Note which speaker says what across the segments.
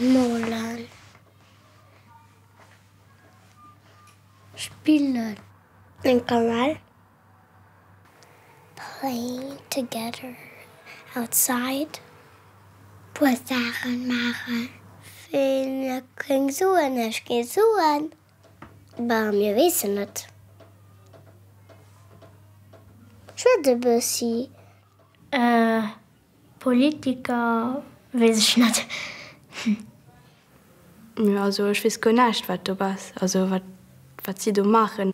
Speaker 1: Molen. Spillen. Eng Kawell. Playing together outside. Puer Saachen maachen. Wéi eng Suen ech ginn soen. Bah, mir weessen net. Schwätz e bëssi. Ee Politiker, weess ech net. Hm,
Speaker 2: also ech weess guer näischt, wat do bess, also wat, wat si do maachen.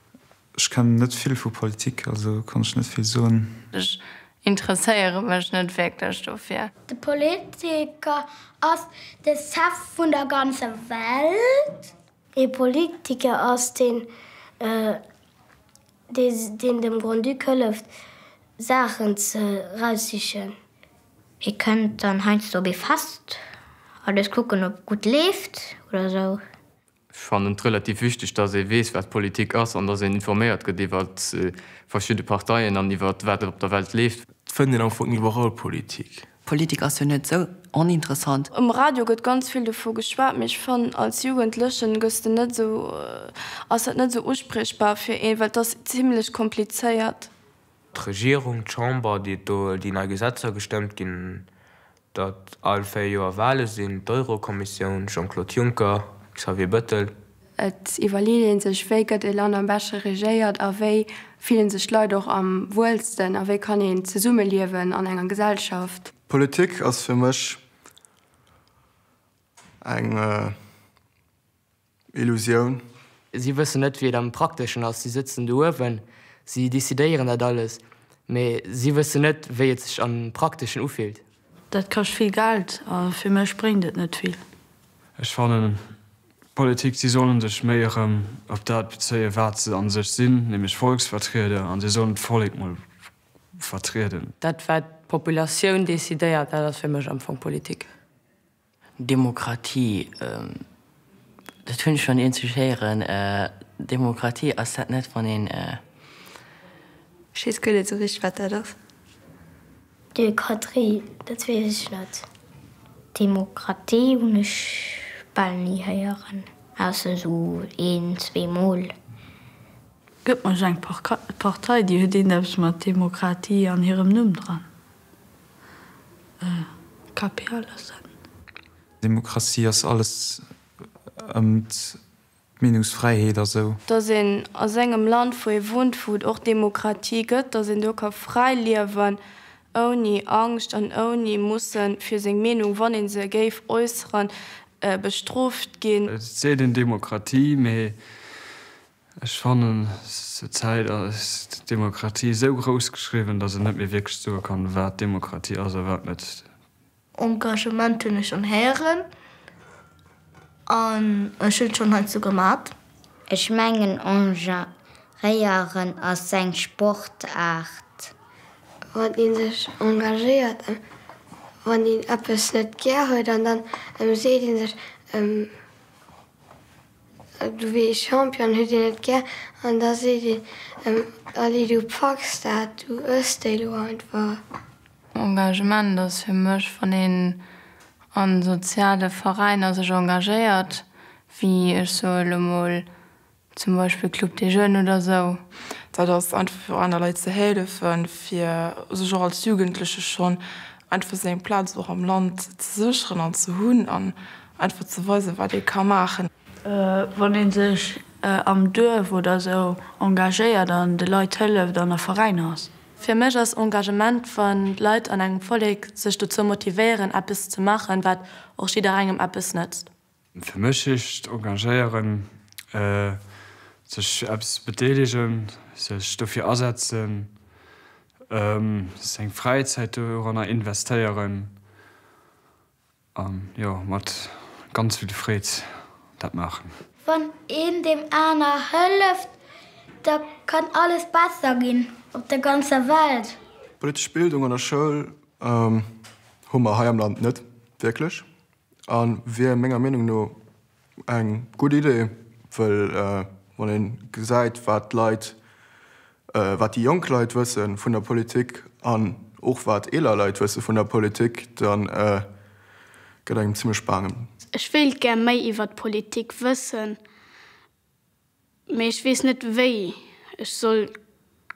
Speaker 2: Ech kennen net
Speaker 3: vill vu Politik, also kann ech net vill soen. Ech
Speaker 4: interesséiere mech net wierklech dofir. De Politiker
Speaker 1: ass de Chef vun der ganzer Welt. Ee Politiker ass, deen dem Grand-Duc hëlleft, Saachen ze raussichen. Ee kënnt dann heiansdo op ee Fest, a léisst kucken, ob gutt leeft oder esou. Ech fannen
Speaker 5: et relativ wichteg, datt ee weess, wat Politik ass, an datt een informéiert gëtt iwwer verschidde Parteien an iwwer wat op der Welt leeft. Et fënnt een am Fong
Speaker 6: iwwerall Politik. Politik ass jo net
Speaker 7: sou oninteressant. Um Radio gëtt ganz
Speaker 2: vill dovu geschwat, mee ech fannen als Jugendlechen gëss de net sou, ass dat net sou uspriechbar fir een, well et ass zimlech komplizéiert.
Speaker 6: D'Regierung, d'Chamber, déi et do, déi nei Gesetzer gestëmmt ginn, datt all véier Joer Wale sinn, d'Eurokommissioun, Jean-Claude Juncker, Xavier Bettel. Et iwwerleet
Speaker 2: ee sech, wéi gëtt e Land am beschte regéiert a wéi fillen sech d'Leit och am wuelsten a wéi kann een zesumme liewen an enger Gesellschaft. Politik ass
Speaker 8: fir mech eng Illusioun. Si wëssen net,
Speaker 9: wéi et am Prakteschen ass. Si sëtzen do uewen, si decidéieren dat alles, mee si wëssen net, wéi et sech am Prakteschen ufillt. Dat kascht vill
Speaker 10: Geld a fir mech bréngt et net vill. Ech fannen
Speaker 3: d'Politik, si sollen sech méi erëm op dat bezéien, wat se a sech sinn, nämlech Volksvertrieder, an si sollen d'Vollek mol vertrieden. Dat, wat
Speaker 4: d'Populatioun decidéiert, dat ass fir mech am Fong Politik.
Speaker 7: Demokratie, dat hunn ech schonn eenzeg héieren. Demokratie, ass dat net wann een. Ech
Speaker 2: weess guer net esou richteg wat dat ass. Demokratie,
Speaker 1: dat weess ech net. Demokratie hunn ech bal ni héieren, ausser esou een, zwee mol.
Speaker 10: Gëtt mech eng Partei déi huet iergendeppes mat Demokratie an hirem Numm dran.
Speaker 3: Demokratie ass alles ëm d'Meenungsfräiheet a sou. Dass een a
Speaker 2: sengem Land, wou ee wunnt, wou et och Demokratie gëtt, dass een do ka fräi liewen, ouni Angscht an ouni musse fir seng Meenung, wann ee se géif äusseren, bestrooft ginn. Et seet een Demokratie,
Speaker 3: mee. Ech fannen zur Zäit ass Demokratie esou grouss geschriwwen, dass een net méi wierklech soe kann, wat Demokratie ass a wat net. Engagement
Speaker 1: hunn ech schonn héieren an ech hunn schonn heiansdo gemat. Ech mengen engagéieren ass eng Sportaart. Wann een sech engagéiert a wann een eppes net gär huet an dann seet een sech. Du wéi ee Champion huet een et gär an da seet een Allez du packs dat, du ëss déi lo einfach. Engagement
Speaker 4: ass fir mech wann een an soziale Veräiner sech engagéiert, wéi ech soe lo mol zum Beispill Club des Jeunes oder esou. Dat ass einfach
Speaker 11: fir aner Leit ze hélefen, fir sech och als Jugendleche schonn einfach seng Plaz och am Land ze sécheren an ze hunn. Einfach ze weisen, wat ee ka maachen. Wann ee sech
Speaker 10: am Duerf oder esou engagéiert an de Leit hëlleft an a Veräiner ass. Fir mech ass
Speaker 2: Engagement, wann d'Leit an engem Vollek sech dozou motivéieren, eppes ze maachen, wat och jidderengem eppes nëtzt. Fir mech
Speaker 3: heescht engagéieren, sech eppes bedeelegen, sech dofir asetzen, seng Fräizäit doranner investéieren. An jo, mat ganz vill Freed dat maachen. Wann een
Speaker 1: deem aner hëlleft, da kann alles besser ginn op der ganzer Welt. Politesch Bildung an
Speaker 8: der Schoul hu mer hei am Land net wierklech. A wier menger Meenung no Eng gutt Idee, well wann ee gesäit, wat d'Leit, wat déi jonk Leit wësse vun der Politik an och wat eeler Leit wësse vun der Politik, da gëtt engem zimmlech baange. Ech wéilt gär
Speaker 12: méi iwwer d'Politik wëssen. Mee ech wees net wéi ech soll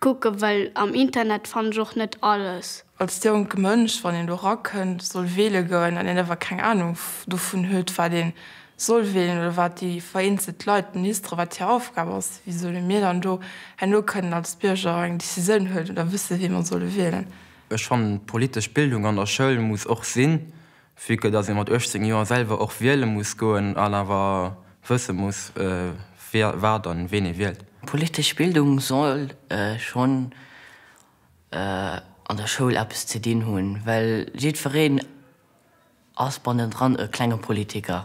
Speaker 12: kucken, well am Internet fann ech och net alles. Als jonke Mënsch,
Speaker 11: wann een do rakënnt, soll wele goen an een awer keng Ahnung dovun huet, wat ee soll welen oder wat déi vereenzelt Leit, d'Ministeren, wat hir Aufgab ass, wéi solle mir dann do herno kënnen als Bierger eng Décisioun huelen oder wësse wee mer solle wielen? Ech fannen,
Speaker 13: d'politesch Bildung an der Schoul muss och sinn, Vue que dass ee mat 18 Joer selwer och wiele muss goen an awer wësse muss, wie, wat an ween ee wielt. Politesch Bildung
Speaker 7: soll schonn an der Schoul eppes ze dinn hunn, well jiddwereen ass bannendran e klenge Politiker.